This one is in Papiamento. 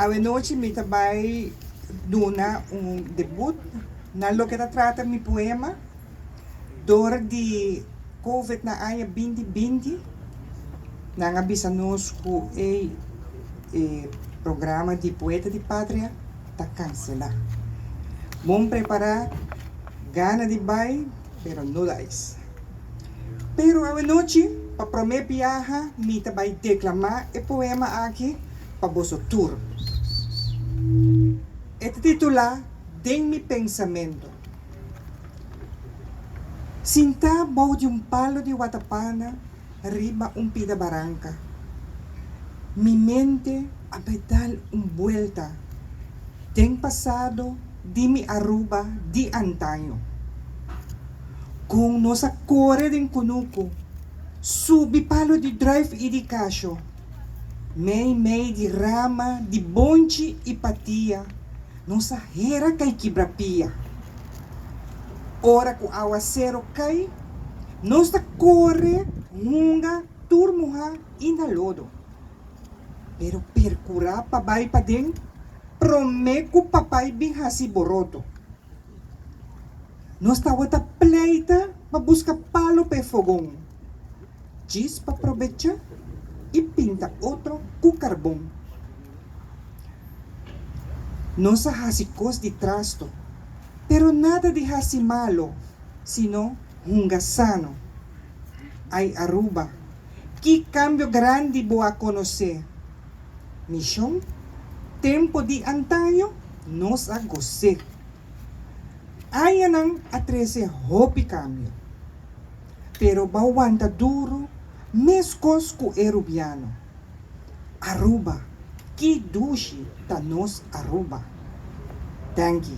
Awenochi mi ta bai duna un debut na loke ta trata mi poema dor di covid na aña binti binti nan a bisa nos ku e programa di poeta di patria ta kanselá. Bon prepará gana di bai. pero no la es. Pero awanochi, pa promé biaha, mi ta bai deklamá e poema aki pa boso tur. E ta titulá Den mi pensamentu. Sintá bou di un palu di watapana. riba un pida baranka. Mi mente a bai dal un buelta den pasado di mi Aruba di antaño. Kon nos a kore den kunuku, subi palo di druif i di kasho, mei mei di rama di bonchi i patia Nos a hera kai kibra pia. Ora ku aguasero kai, nos ta kore hunga tur muhá i na lodo. Pero perkurá pa bai paden promé ku papai bin hasi boroto. Nos tabata pleita pa buska palo p'e fogon, djis pa probecha i pinta otro ku karbon. Nos a hasi kos di trasto, pero nada di hasi malo, sino hunga sano. Ai Aruba, ki kambio grandi bo a konosé? Mishon, Tempo di antaño nos a gos'é. Añanan a trese hopi kambio. Pero bo a wanta duru meskos ku e rubiano. Aruba, ki dushi ta nos Aruba. Danki.